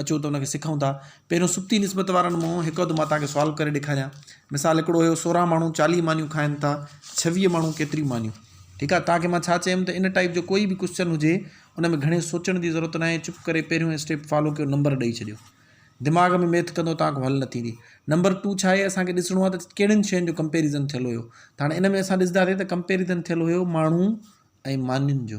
اچو ته ان کي سکون ٿا. پهريون سڪتي نسبت وارن مون هڪ اڌ مان توهانکي سوالو ڪري ڏيکاريان. مثال هڪڙو هيو سورهن ماڻهو چاليهه مانيون کائن ٿا، ڇويهه ماڻهو ڪيتريون مانيون؟ ٺيڪ آهي توهانکي مان ڇا چيم ته ان ٽائيپ جو ڪوئي به ڪوسچن هجي ان ۾ گهڻي سوچڻ جي ضرورت ناهي چپ ڪري پهريون اسٽيپ فالو ڪيو نمبر ڏئي ڇڏيو. دماغ ۾ ميٿ ڪندو توهانکو حل نه ٿيندي. نمبر ٽو ڇا هي اسانکي ڏسڻو آهي ته ڪهڙين شين جو ڪمپيريزن ٿيل هيو ته هاڻي ان ۾ اسان ڏسداسين ته ڪمپيريزن ٿيل هيو ماڻهو ۽ مانين جو.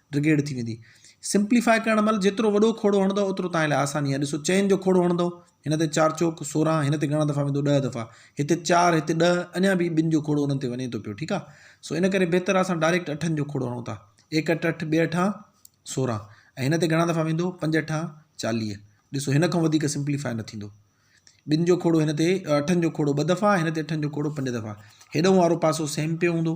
ڊگيڊ ٿي ويندي. سمپليفاء ڪرڻ مھل جيترو وڏو کوڙو ھڻندؤ اوترو توھان لاء آساني آھي. ڏسو چئن جو کوڙو ھڻندؤ، ھن تي چار چوڪ سورنھن، ھن تي گھڻا دفعا ويندو ڏهه دفعا، ھتي چار ھتي ڏهه، اڃان به ٻن جو کوڙو انھن تي وڃي ٿو پيو ٺيڪ آ. سو ان ڪري بھتر آ اسان ڊائريڪٽ اٺن جو کوڙو ھڻون ٿا. ايڪ اٺ اٺ، ٻي اٺان سورنھن ۽ ھن تي گھڻا دفعا ويندو پنج اٺان چاليھ. ڏسو ھن کان وڌيڪ سمپليفاء نه ٿيندو. ٻن جو کوڙو ھن تي اٺن جو کوڙو ٻه دفعا ھن تي اٺن جو کوڙو پنج دفعا. ھيڏنھن وارو پاسو سيم پيو ھوندو.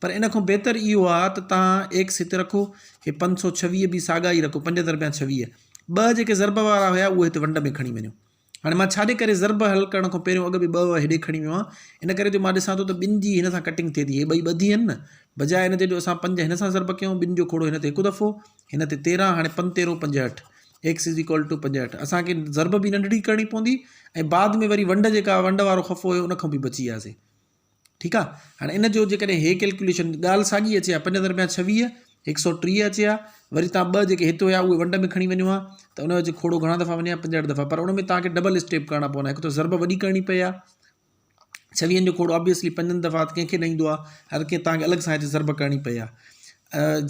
پر ان کان بهتر اهو آ ته توهان ايڪ سيت رکو، هي پنج سؤ ڇويهه به ساڳا ئي رکو، پنج دربيان ڇويهه. ٻه جيڪي ضرب وارا هيا اهي هت ونڊ ۾ کڻي وڃو. هاڻي مان ڇاجي ڪري ضرب حل ڪرڻ کان پهريون اڳ به ٻه وهه هيڏي کڻي ويو آهيان، ان ڪري جو مان ڏسان ٿو ته ٻن جي هن سان ڪٽنگ ٿئي ٿي، هي ٻئي ٻڌي هين نه. بجاء ان جي جو اسان پنج هن سان ضرب ڪيون، ٻن جو کوڙو هن تي هڪ دفعو، هن تي تيرهن، هاڻي پنج تيرهون پنجهٺ، X is equal to پنجهٺ. اسان کي ضرب به ننڍڙي ڪرڻي پوندي ۽ بعد ۾ وري ونڊ جيڪا ونڊ وارو خفو هيو ان کان به بچي وياسي. ٺيڪ آ ھاڻي ان جو جيڪڏھن ھي ڪلڪيوليشن ڳالھ ساڳي اچي ھا پنج درميان ڇويھ ھڪ سؤ ٽيھ اچي ھا وري تھان ٻه جيڪي ھت ھيا اھي ونڊ ۾ کڻي وڃو ھا ته ان جو کوڙو گھڻا دفعا وڃي ھا پنجھٺ دفعا پر ان ۾ تھانکي ڊبل اسٽيپ ڪرڻا پوندا ھڪ ته ضرب وڏي ڪرڻي پئي ھا ڇويھن جو کوڙو آبويسلي پنجن دفعا ڪنھن کي نه ايندو آ ھر ڪنھن تھانکي الڳ سان ھتي ضرب ڪرڻي پئي ھا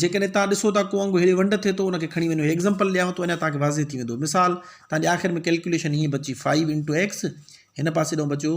جيڪڏھن تھان ڏسو ٿا ڪو انگ ھيڙي ونڊ ٿئي ٿو ان کي کڻي وڃو ايگزامپل ڏيانو ٿو اڃا تھانکي واضح ٿي ويندو مثال تھانجي آخر ۾ ڪلڪيوليشن ھيئن بچي فائو انٽو ايڪس ھن پاسي ڏانھن بچيو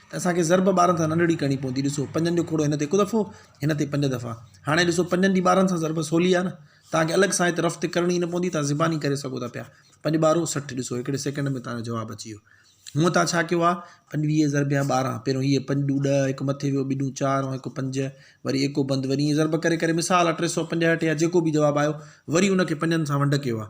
ته اسان کي ضرب ٻارن سان ننڍڙي ڪرڻي پوندي ڏسو پنجن جو کوڙو هن تي هڪ دفعو هن تي پنج دفعا هاڻي ڏسو پنجن جي ٻارن سان ضرب سولي آهي نه تان کي الڳ سان هت رفت ڪرڻي نه پوندي تان زباني ڪري سگهو ٿا پيا پنج ٻارو سٺ ڏسو هڪڙي سيڪنڊ ۾ تان جو جواب اچي ويو هونء تان ڇا ڪيو آهي پنجويهه ضرب يا ٻارهن پهريون هيء پنج ڏون ڏهه هڪ مٿي ويو ٻي ڏون چار ۽ هڪ پنج وري ايڪو بند وري ائين ضرب ڪري ڪري مثال آهي ٽي سؤ پنجهٺ يا جيڪو به جواب آيو وري ان کي پنجن سان ونڊ ڪيو آهي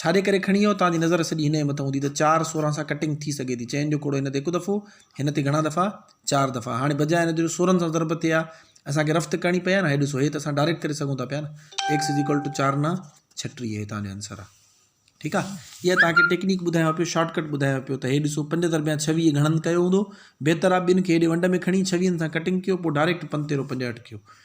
ڇاڏي ڪري کڻي ايو؟ توهان جي نظر سڄي هن جي مٿان هوندي ته چار سورهن سان ڪٽنگ ٿي سگهي ٿي. چئن جو ڪوڙو هن تي هڪ دفعو، هن تي گهڻا دفعا، چار دفعا. هاڻي بجاء ان جو جو سورهن سان ضرب ٿئي ها، اسان کي رفت ڪرڻي پئي ها نه. هي ڏسو، هي ته اسان ڊائريڪٽ ڪري سگهون ٿا پيا نه. ايڪس از ايڪول ٽو چار نه ڇٽيهه هي توهان جو آنسر آ. ٺيڪ آ. اها توهان کي ٽيڪنيڪ ٻڌايان پيو، شارٽ ڪٽ ٻڌايان پيو ته هي ڏسو، پنج ضربيان ڇويهه گهڻن ڪيو هوندو. بهتر آ ٻن کي هيڏي ونڊ ۾ کڻي ڇويهن سان ڪٽنگ ڪيو، پوء ڊائريڪٽ پنتيرو پنجهٺ ڪيو.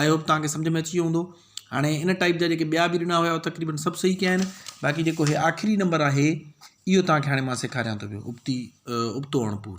آئي هوپ توهان کي سمجهه ۾ اچي ويو هوندو هاڻي ان ٽائپ جا جيڪي ٻيا به ڏنا هيا تقريبن سڀ صحيح ڪيا آهن باقي جيڪو هي آخري نمبر آهي اهو توهان کي هاڻي مان سيکاريان ٿو پيو ابتي ابتو اڻپور